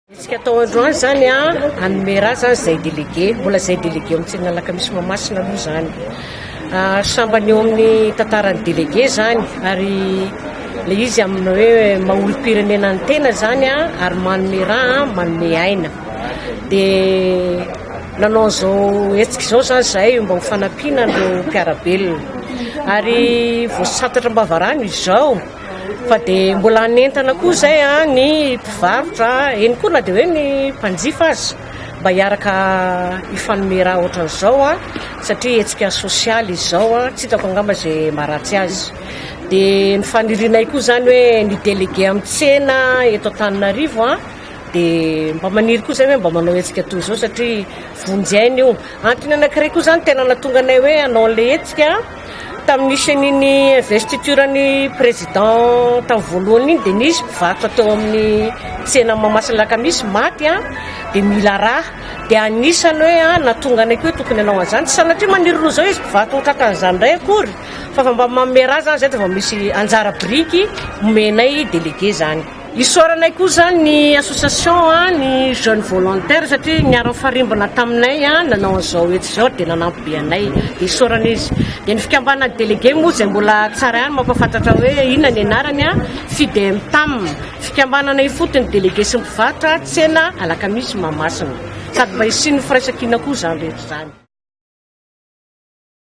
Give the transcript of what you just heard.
Hetsika atao androany izany hanome ra izany izay delege, mbola izay delege ao amin'ny Alakamisy Mahamasina aloha izany. Ah, sambany eo amin'ny tantaran'ny delege izany ary le izy amin'ny hoe maha-olom-pirenena ny tena izany ary manome ra, manome aina. Dia nanao an'izao hetsika izao izany izahay mba ho fanampiana an'ireo mpiara-belona. Ary voasantatra am-bavarano izao. Fa dia mbola hanentana koa izay ny mpivarotra, eny koa na dia hoe ny mpanjifa aza, mba hiaraka hifanome raha ohatran'izao satria hetsika sosialy izy izao, tsy hitako angamba izay maharatsy azy. Dia ny fanirianay koa izany hoe ny délégué amin'ny tsena eto Antananarivo dia mba maniry koa izay hoe mba manao hetsika toy izao satria vonjy aina io. Antony anankiray koa izany tena nahatonga anay hoe hanao an'ilay hetsika. Tamin'ny senin'ny investiture ny président tamin'ny voalohany iny dia nisy mpivarotra teo amin'ny tsena Mahamasina Alakamisy maty an, dia mila raha, dia anisany hoe an natongany koa tokony hanao an'izany, tsy sanatria maniry loza eo izy mpivarotra ny tratr'an'izany indray akory fa fa mba manome raha izany izay dia vao misy anjara biriky omenay délégué izany. Isaoranay koa izany ny association ny jeune volontaire satria niara-nifarimbona taminay nanao an'izao hetsika izao dia nanampy be anay dia isaorana izy. Dia ny fikambanan'ny délégué moa izay mbola tsara ihany mampahafantatra hoe inona ny anarany, Fidemtam, fikambanana ifotony délégué sy mpivarotra tsena alakamisy Mahamasina. Sady mba hisian'ny firaisankina koa izany rehetra izany.